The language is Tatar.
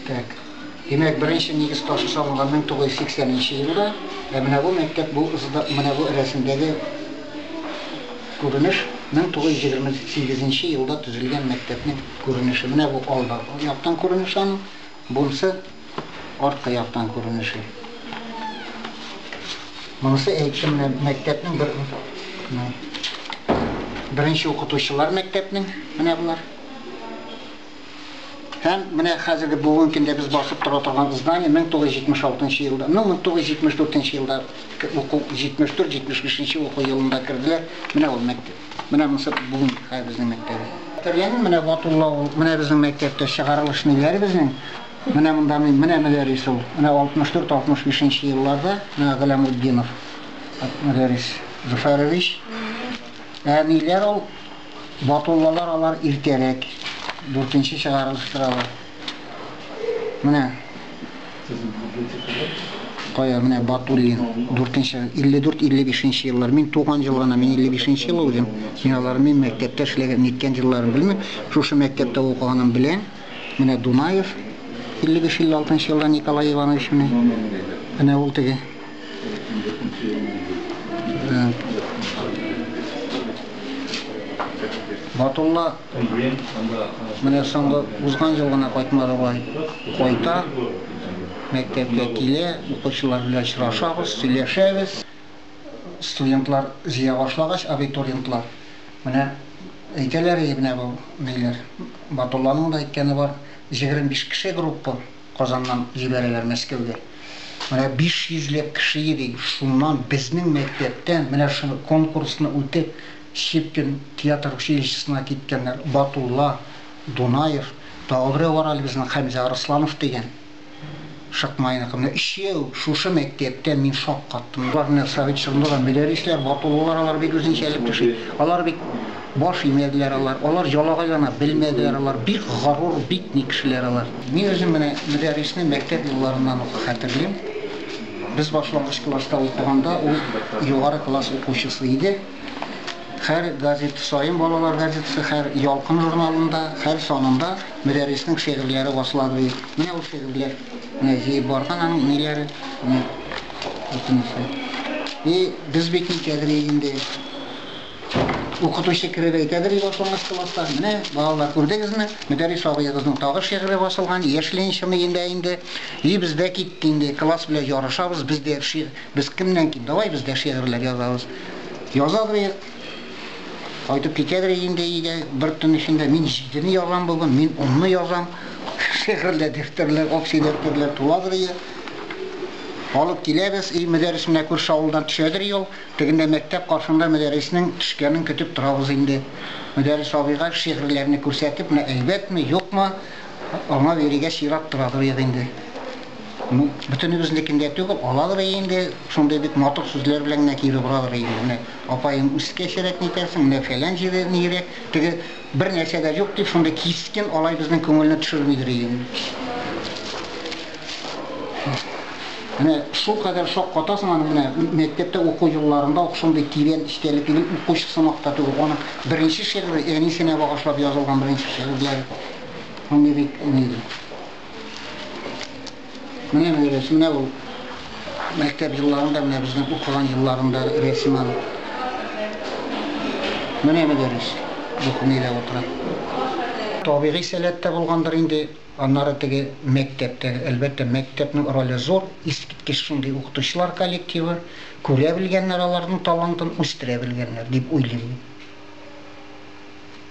Так. Димәк, беренче нигез ташы салынган 1980 нче елда. Ә менә бу мәктәп, бу ызыда, менә бу рәсемдәге күренеш 1928 нче елда төзелгән мәктәпнең күренеше. Менә бу алда яктан күренеш аның. Бунсы. Арткы яктан күренеше. Монысы әйтче менә мәктәпнең бер беренче укытучылар мәктәпнең менә болар. Һәм менә хәзерге бүгенге көндә без басып тора торган здание 1976 елда, ну 1974 елда уку 74-75 уку елында керделәр. Менә ул мәктәп. Менә монысы бүген хәзерге мәктәбе. Тәрбиянең менә ватуллавы, менә безнең мәктәптә чыгарылыш ниләре безнең? Менә монда мин, менә Мөдәррис ул. Менә 64-65 нче елларда, менә Галәмутдинов Мөдәррис Зөфәрович. Ә ниләр ул, Батуллалар алар иртәрәк, дүртенче чыгарылыштыр алар. Менә. Кая, менә Батуллин, дүртенче, 54-55 нче еллар. Мин туган ел гына, мин 55 нче ел ул үзем. Мин аларны мин мәктәптә эшләгән, ниткән җилларын белмим. Шушы мәктәптә укыганым белән. Менә Дунаев 55-56 нчы елда Николай Иванович менә. Менә ул теге. Батулла менә соңгы узган ел гына кайтмады бай. Кайта, мәктәпкә килә, укучылар белән очрашабыз, сөйләшәбез. Студентлар җыя башлагач, абитуриентлар, менә Әйтәләр иде менә бу ниләр. Батулланың да әйткәне бар, җегерме биш кеше группа Казаннан җибәрәләр Мәскәүгә. Менә биш йөзләп кеше йөри, шуннан безнең мәктәптән менә шуны конкурсны үтеп, Щепкин театр училищесына киткәннәр, Батулла, Дунаев, тагы берәү бар әле безнең Хәмзә Арысланов дигән. Шыкмайныкы менә өч ел шушы мәктәптә мин шаккаттым. Алар менә совет чорында да мөдәррисләр, батуллылар алар бит үзенчәлек кеше. Алар бит баш имәделәр алар. Алар ялагайлана белмәделәр алар. Бик горур, бик ни кешеләр алар. Мин үзем менә мөдәррисне мәктәп елларыннан ук хәтерлим. Без башлангыч класста укыганда ул югары класс укучысы иде. Һәр газета саен балалар газетасы, һәр Ялкын журналында, һәр санында Мөдәрриснең шигырьләре басыла ди. Менә ул шигырьләр. Менә җыеп барган аның ниләре. Менә бөтенесе. И, без бит нитәдер инде. Укытучы кереп әйтәдер и башлангыч класста, менә, балалар, күрдегезме, Мөдәррис абыегызның тагы шигыре басылган, яшьле ничәме инде инде. И, без дә китте инде, класс белән ярышабыз, без дә Без кемнән ким? Давай без дә шигырьләр язабыз. Язадыр, кайтып китәдер инде өйгә бер төн эчендә. Мин җидене язам бүген, мин унны язам. Шигырьләр, дәфтәрләр, общий дәфтәрләр туладыр ие. Алып киләбез, өй мөдәррисенә күрше авылдан төшәдер юл. Тегендә мәктәп, каршында мөдәрриснең төшкәнен көтеп торабыз инде. Мөдәррис абыйга шигырьләрне күрсәтеп, менә әйбәтме, юкмы, аңа бирергә чират торадыр ие инде. Ну, бөтенебезнекин дә түгел, алалар инде, шундый бик матур сүзләр белән генә кире боралар инде. Менә апаем үскәчрәк нитәрсең, менә фәлән җире нирәк, теге бер нәрсә дә юк дип шундый кискен алай безнең күңелне төшермидер инде. Менә шул кадәр шок катасың аны менә мәктәптә уку елларында ук шундый тирән эчтәлекле бит укучы сымак та түгел. Аны беренче шигыре әнисенә багышлап язылган беренче шигырьләре. Аны бик уйлыйм. Менә менә рәсем, менә ул мәктәп елларында, менә безнең укыган елларында рәсем аны. Менә мөдәррис документта утыра. Табигый сәләттә булгандыр инде, аннары теге мәктәптә, әлбәттә, мәктәпнең роле зур, искиткеч шундый укытучылар коллективы, күрә белгәннәр аларның талантын, үстерә белгәннәр, дип уйлыйм мин.